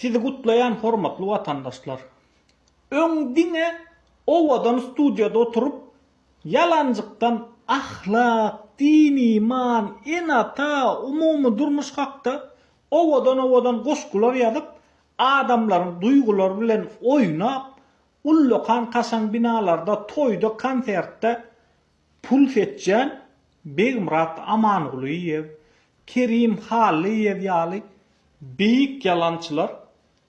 Sizi gutlaýan hormatly watandaşlar. Öň diňe owadan studiýada oturyp ýalanjykdan ahlak, din iman, enata, umumy durmuş hakda owadan owadan goşgular ýazyp adamlaryň duýgulary bilen oýnap ullakan kaşaň binalarda toýda konsertde Pul seçýän Begmyrat Amangulyýew, Kerim Hallyýew ýaly beýik ýalançylar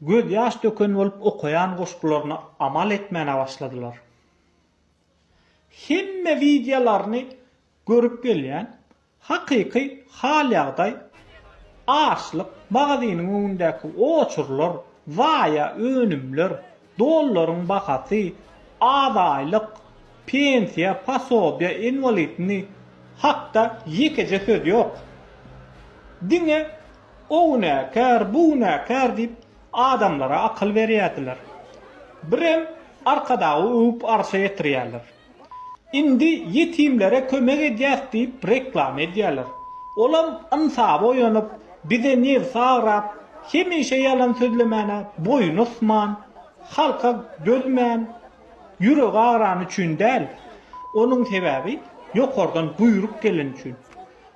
gözýaş döken bolup okaýan goşgularyna amal etmäne başladylar. Hemme wideolaryny görüp gelýän Hakyky hal-ýagdaý, açlyk, magazynyň öňündäki oçurlar, zaýa önümler, dollaryň bahasy, az aýlyk, pensiýa, posobiýa, inwalidni hakda ýekeje söz ýok. Diňe o günäkär, bu günäkär diýip adamlara akyl berýärdiler. Birem Arkadagy öwüp arşa ýetirýärler. Indi ýetimlere kömek edýäs diýip reklama edýärler. Olam ynsaby oýanyp, bize nebsi agrap, hemişe ýalan sözlemäne boýun ysman, halka dözmän, ýüregi agrany üçin däl, onuň sebäbi ýokardan buýruk geleni üçin.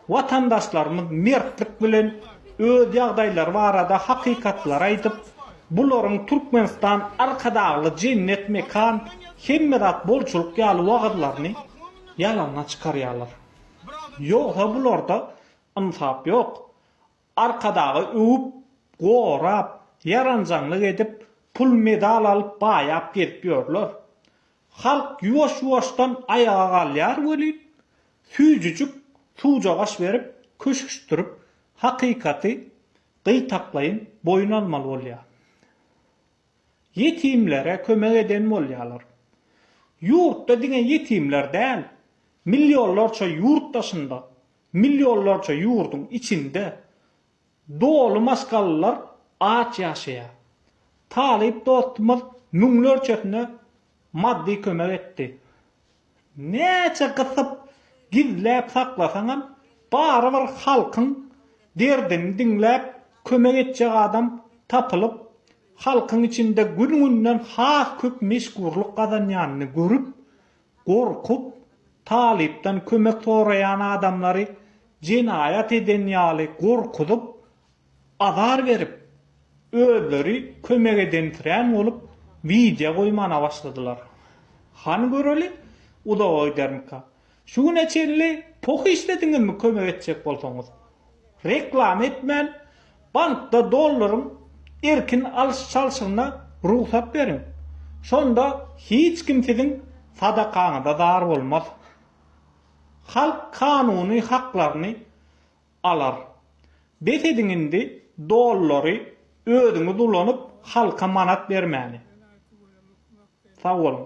Watandaşlarymyz mertlik bilen öz ýagdaýlary barada hakykatlary aýdyp, bularyň Türkmenistan Arkadagly jennet mekan, hemme zat bolçulyk ýaly wagyzlaryny ýalana çykarýarlar. Ýogsa bularda ynsap ýok. Arkadagy öwüp, gorap, ýaranjaňlyk edip, pul-medal alyp baýap gezip ýörler. Halk ýuwaş-ýuwaşdan aýaga galýar welin, süýjüjik suwjagaş berip, köşeşdirip, hakykaty gytaklaýyn boýun almaly bolýar. Ýetimlere kömek eden bolýarlar. Ýurtda diňe ýetimler däl, millionlarça ýurt daşynda, millionlarça ýurduň içinde Doly maşgalalar aç ýaşaýar. Talyp dostumyz müňlerçesine maddy kömek etdi. Näçe gysyp, gizläp saklasaňam, barybir halkyň derdini diňläp, kömek etjek adam tapylyp, halkyň içinde gün-günden has köp meşhurlyk gazanýanyny görüp, gorkup, talypdan kömek soraýan adamlary jenaýat eden ýaly gorkuzyp, azar berip, özleri kömek edensirän bolup, wideo goýmana başladylar. Hany göreli, uzaga gidermika? Şu güne çenli poh işlediňizmi kömek etjek bolsaňyz? Reklama etmän, Bankda dollaryň erkin alyş-çalşygyna rugsat beriň. Şonda hiç kim siziň sadakaňyza zar bolmaz. Halk kanuny haklaryny alar. Bes ediň indi dollary özüňiz ulanyp halka manat bermäni. Sag boluň.